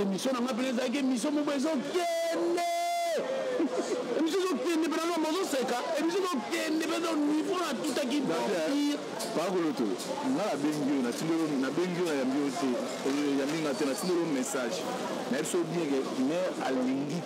émission na nga mpena ezalaki émission moko ezokende émission ezokende mpena loma ozoseka émission ezokende mpena niveau natutaki bapire pakoloto nga nabengi yo natindelo nabengi yo nayambi yo te yambi nga te natindelo message nayebi so bien ke mais alingi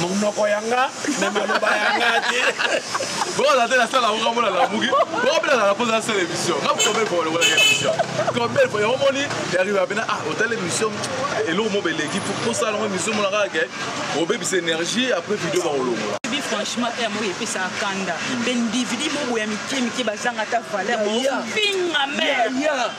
monoko ya nga me maloba ya nga te bokozala te nasala yango kamona lamuki bokobelana na mposa nasala émission nga combien fois olokolaka émission combien fois yango moni yariba pena ah otala émission eloko mo beleki posala yango émission mona kaka ke obebisa énergie après video bakolongola franchement aya moko epesaka kanda mpe ndividi moboya mike mike bazanga ata valeur finga mare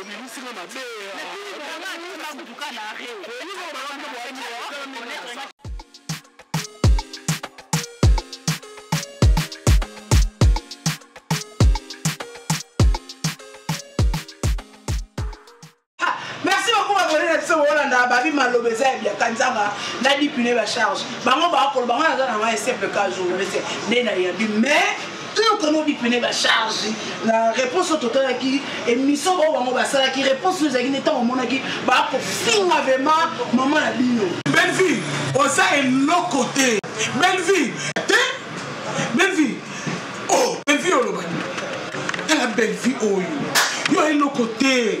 obimisi nga mabe babi maloba eza ya biaka nzanga na dipine bacharge bango bakoloba ngai naza na ngai simple ka journaliste nde nayabi mais toyokana obipene bacharge na réponse oyo totalaki émission oyo bango basalaki réponse oyo ezalaki nde ntango omonaki bakofinga vraiment mama na bino bellevie oza eloko te bellevie te bellevie o oh, bellevie olobaki tala bellevie oyo yo eloko te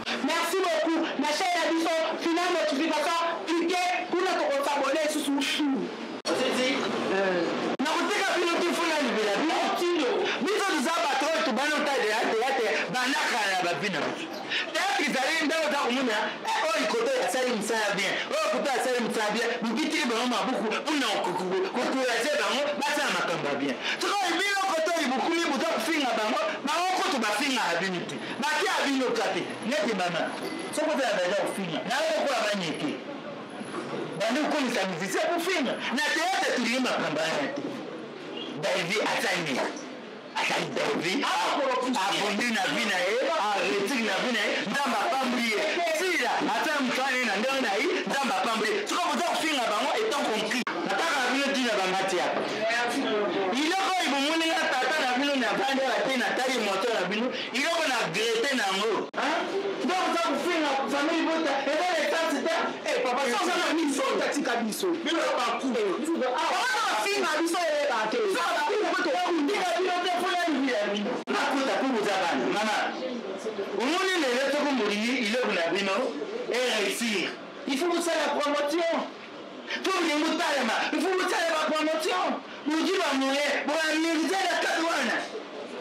Merci beaucoup na chaine na biso fina notification clique kuna toko s'abonner lisusu. komona eh, oyo koto asali mosala bien oyo koto asali mosala bien bobitiki bango mabuku mpona kokouraje bango basala makambo ya bien soki oyebi yo koto libukumi boza kofinga bango bango kutu bafingaka bino te Bake a bino kate neti bana soko te na daja kofinga na yango kola banyeke bandi kokomisa musicien kofinga na teyate tulingi makambo yana te davi asali asali davi abondi na vi na ye aretire na vi na ye nzambe apamboli ye sila asala mosala ye na ndenge na ye nzambe apamboli ye soki boza kofinga bango etant compris nataka na bino ntina bangati yaka biloko oyo bomoni nga tata na bino navandaka te natali moto na bino biloko na grete na yango donc za kofinga famille bota eza na esansi te eh, papa soza na biso tatika biso bino bakubafinga eh, biso eyeba te ndika bino te mpo ya libi ya bino nakuta mpo boza bana mama omoni lelo toko molingi iloko na bino eresir il faut kosala promotion Pour que vous talema, il faut vous talema promotion. Vous dites à moi, vous avez mérité la cadouane.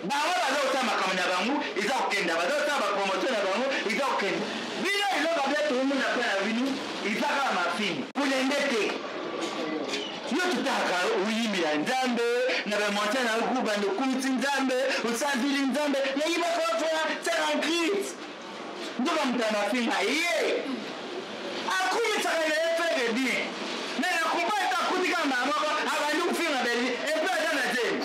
Bawa baza kotala makambo na bango eza kokenda baza kotala bapromotion na bango eza kokenda bino eloko bia toomona mpe na bino eza kaka mafini kulende te yo totaka oyimbi ya nzambe na bamonte na yo kubanda okumisi nzambe osanzili nzambe nayibaka ofela tala grite nzoka moto ya mafinga ye akumisaka na ye fede bien me na kompa ete akutika mbala moko abandi kofinga beli epe aza na zemi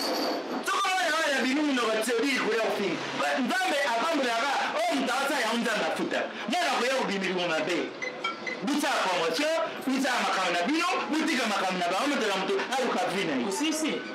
soko wana wana ya bini minoko tiodi likoya kofinga nzambe apambolaka oyo moto aosala yango nzambe afuta mwana koya kobimilimo mabe bosala promotion bosala makambo na bino botika makambo na bango moto na moto aluka vi na ye